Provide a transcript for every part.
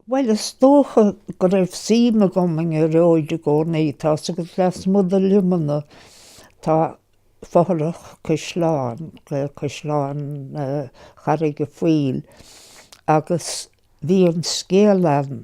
Bhuel, is dócha go raibh suim agam i nGearóid i gcónaí, tá's agat, lasmuigh de Luimneach, tá fothrach caisleáin, Caisleán Charraig a' Phoill, agus bhí an scéal ann,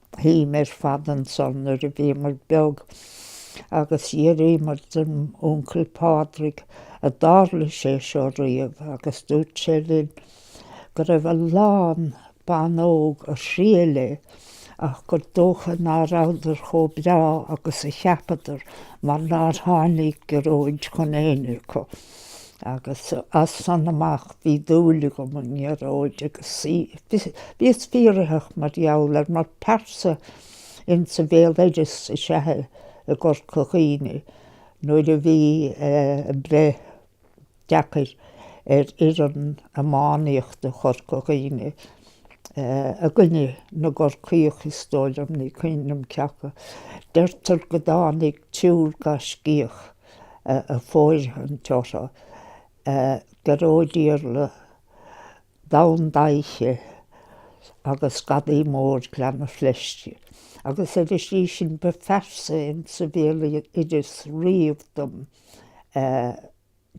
Shuíomar fad ansan nuair a bhíomar beag agus d'fhiafraíomar den Uncail Pádraig an dtarla sé seo riamh agus dúirt sé linn go raibh a lán ban óg a thriail é ach gur dócha ná rabhadar chomh breá agus a cheapadar mar nár tháinig Gearóid chun éinne acu. Agus as san amach bhí dúil agam i nGearóid agus bhíos fiafraitheach mar gheall air mar pearsa. Insa bhéaloideas is ea i gCorca Dhuibhne nuair a bhí breith deacair ar fhoireann iománaíochta Chorca Dhuibhne i gcoinne na gCorcaíoch is dóigh liom, ní cuimhin liom cé acu. Deirtear go dtáinig triúr gaiscíoch. ag fóirithint orthu Gearóid Iarla, Donn Daibhche agus Gadaí Mór Ghleanna Fleisce agus ar an slí sin ba phearsa in sa bhéaloideas riamh dom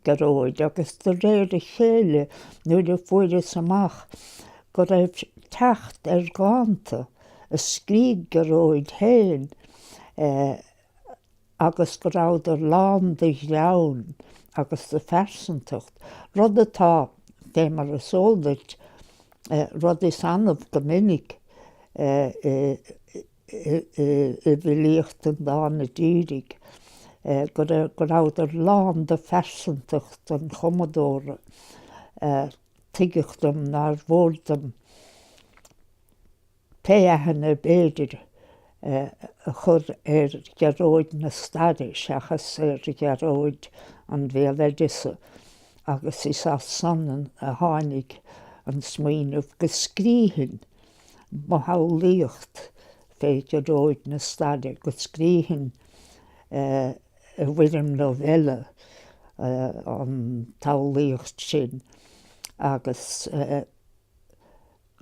Gearóid agus de réir a chéile nuair a fuaireas amach go raibh teacht ar dhánta a scrígh Gearóid féin agus go rabhadar lán de ghreann agus de phearsantacht, rud atá, fé mar is eol duit, rud is annamh go minic i bhfilíocht an dána dírigh, go rabhadar lán de phearsantacht an chumadóra. Tuigeadh dom nár mhór dom. Pé aithne ab fhéidir a chur ar Ghearóid na staire seachas ar Ghearóid an bhéaloideasa, agus is as san a tháinig an smaoineamh go scríofainn mo shamhlaíocht fé Ghearóid na staire, go scríofainn i bhfoirm novella an tsamhlaíocht sin agus.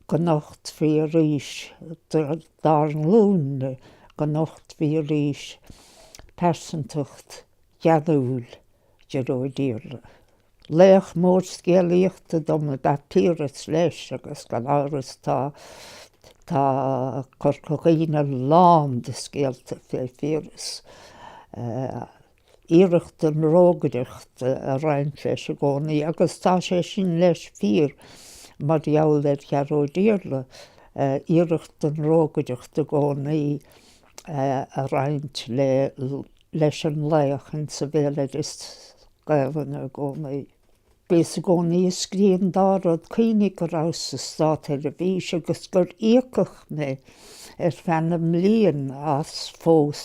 go nochtfaí arís dár nglúin-ne, go nochtfaí arís pearsantacht gheanúil Ghearóid Iarla. Laoch mór scéalaíochta dom ab ea Piaras leis agus gan amhras tá tá Corca Dhuibhne lán de scéalta fé Phiaras. iarracht den rógaireacht ag roinnt leis i gcónaí agus tá sé sin leis fíor mar gheall ar Ghearóid Iarla, iarracht den rógaireacht i gcónaí ag roinnt le, leis an laoch insa bhéaloideas Gaelainne i gcónaí. Bhíos i gcónaí ag scrí an dá rud, cuimhnigh go rabhas sa Státseirbhís agus gur íocadh mé ar feadh na mblian as phrós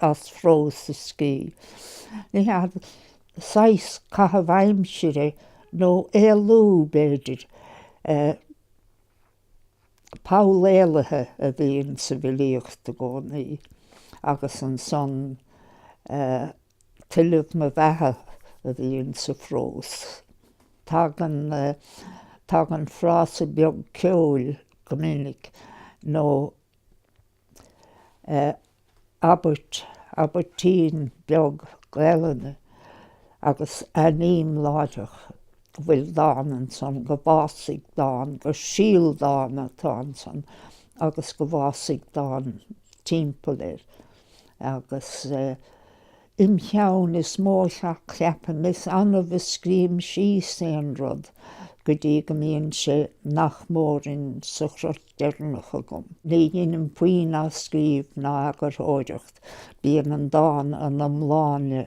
a scrí. Ní hea, saghas caitheamh aimsire nó éalú, b'fhéidir. Poll éalaithe a bhíonn sa bhfilíocht i gcónaí agus ansan eh. Tuilleamh mo bheatha a bhíonn sa phrós. Tagann, tagann frása beag ceoil go minic, nó eh, abairt, abairtín beag Gaelainne, agus aithním láithreach. bhfuil dán ansan, go bhfásfaidh dán, gur síol dána atá ansan agus go bhfásfaidh dán timpeall air. Agus im cheann is mó a cheapaim, is annamh a scríobhaim síos aon rud go dtí go mbíonn sé nach mór in sa chrot deireanach agam. Ní dheinim puinn athscríobh ná eagarthóireacht, bíonn an dán ina iomláine.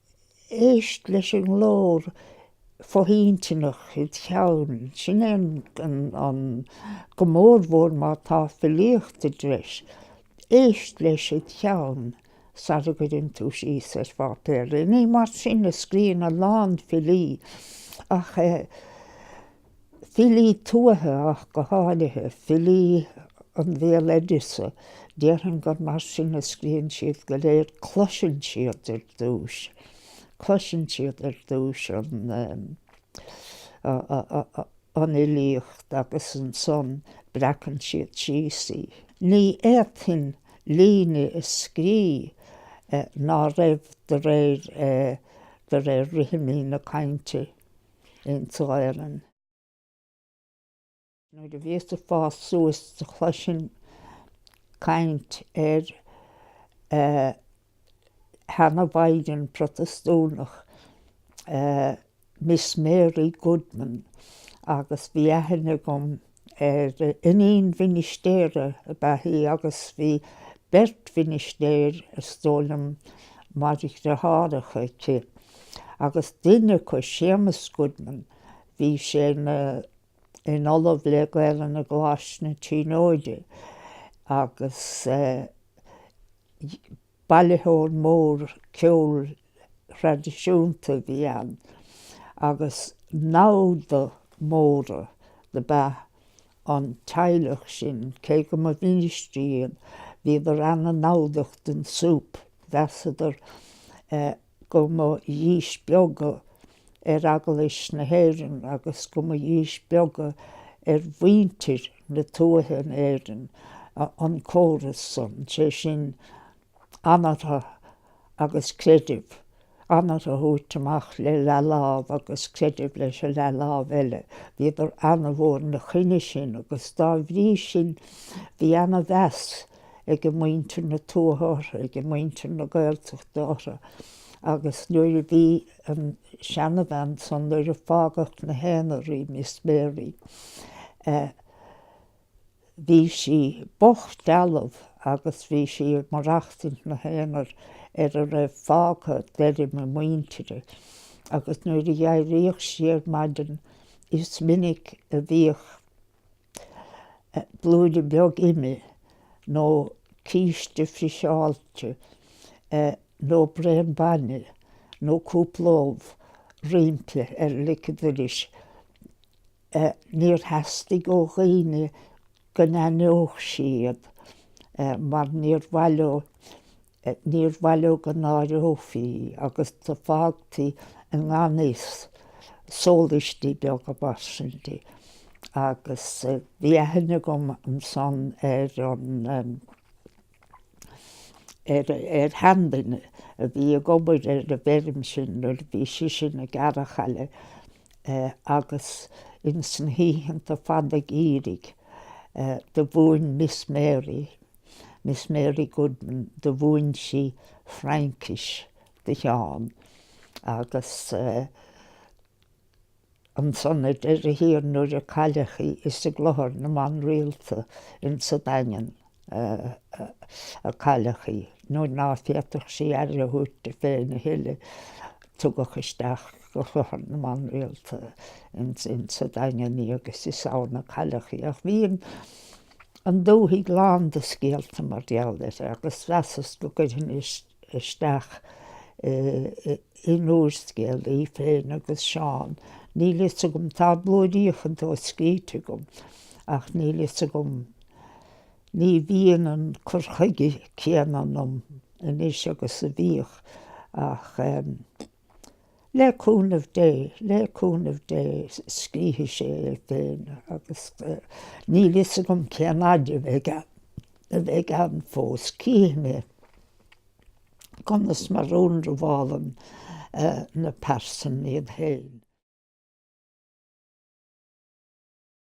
Éist leis an nglór fo-intinneach id cheann. Sin é an go mór mhór má tá filíocht i dtreis. Éist leis id cheann sar a gcuireann tú síos ar pháipéar. Ní mar sin a scríonn a lán filí, ach. Filí tuaithe ach go háirithe, filí an bhéaloideasa, déarfainn gur mar sin a scríonn siad go léir, cloiseann siad ar dtúis, cloiseann siad ar dtúis an fhilíocht agus ansan breacann siad síos í. Ní fhéadfainn líne a scrí ná raibh de réir rithimí na cainte. insa Ghaelainn. Nuair a bhíos ag fás suas do chloisinn caint ar sheanamhaighdean Protastúnach, Miss Mary Goodman agus bhí aithne agam Iníon mhinistéara ab ea í agus bhí beirt mhinistéir, is dóigh liom, mar dhriotháracha aici, agus duine acu, Séamus Goodman, bhí sé ina in Ollamh le Gaelainn i gColáiste na Tríonóide agus. Bailitheoir mór ceoil thraidisiúnta a bhí ann agus namhda móra ab ea an teaghlach sin, cé go mba mhinistrí iad, bhíodar an-namhdach don súp, mheasadar. go mba dhíspeagadh ar Eaglais na hÉireann agus go mba dhíspeagadh ar mhuintir na tuaithe in Éirinn an córas san, sé sin, anairthe agus creideamh, anairthe a thabhairt amach le leathlámh agus creideamh leis an leathlámh eile. Bhíodar ana-mhór ina choinne sin agus dá bhrí sin bhí ana-mheas. aige muintir na tuaithe orthu, aige muintir na Gaeltachta orthu, agus nuair a bhí an seanabhean san, nuair a fágadh ina haonar í, Miss Mary, eh, bhí sí bocht dealbh agus bhí sí ag maireachtaint ina haonar ar a raibh fágtha d'fheirm a muintire, agus nuair a d'éiríodh sí ar maidin is minic a bhíodh blúire beag ime nó císte friseáilte nó braon bainne nó cúpla ubh roimpi ar lic an dorais. Níor theastaigh ó dhaoine go n-aithneodh sí iad mar níor mhaith leo é. Níor mhaith leo go náireofaí í agus do fágtaí i ngan fhios sólaistí beaga mar sin di. Agus bhí aithne agam ansan ar an, ar, ar sheanduine a bhí ag obair ar an bhfeirm sin nuair a bhí sise ina gearrachaile agus ins na hoícheanta fada geimhridh, do mhúin Miss Mary, Miss Mary Goodman do mhúin sí Fraincis do Sheán agus ansan ar deireadh thiar nuair a cailleadh í is i gClochar na mBan Rialta insa Daingean a cailleadh í nuair ná féadfadh sí aire a thabhairt di féin a thuilleadh tugadh isteach go Clochar na mBan Rialta insa Daingean í agus is ann a cailleadh í ach bhí an an dúthaigh lán de scéalta mar gheall uirthi agus mheasas go gcuirfinn isteach in úrscéal í féin agus Seán. Níl fhios agam, tá blúiríocha dó scríte agam, ach níl fhios agam, ní bhíonn an cur chuige céanna ionam anois agus a bhíodh, ach Le cúnamh Dé, le cúnamh Dé, scrífidh sé é féin agus níl fhios agam cén fhaid a bheidh ann fós. Cífidh mé conas mar a ionramhálann na pearsain iad féin.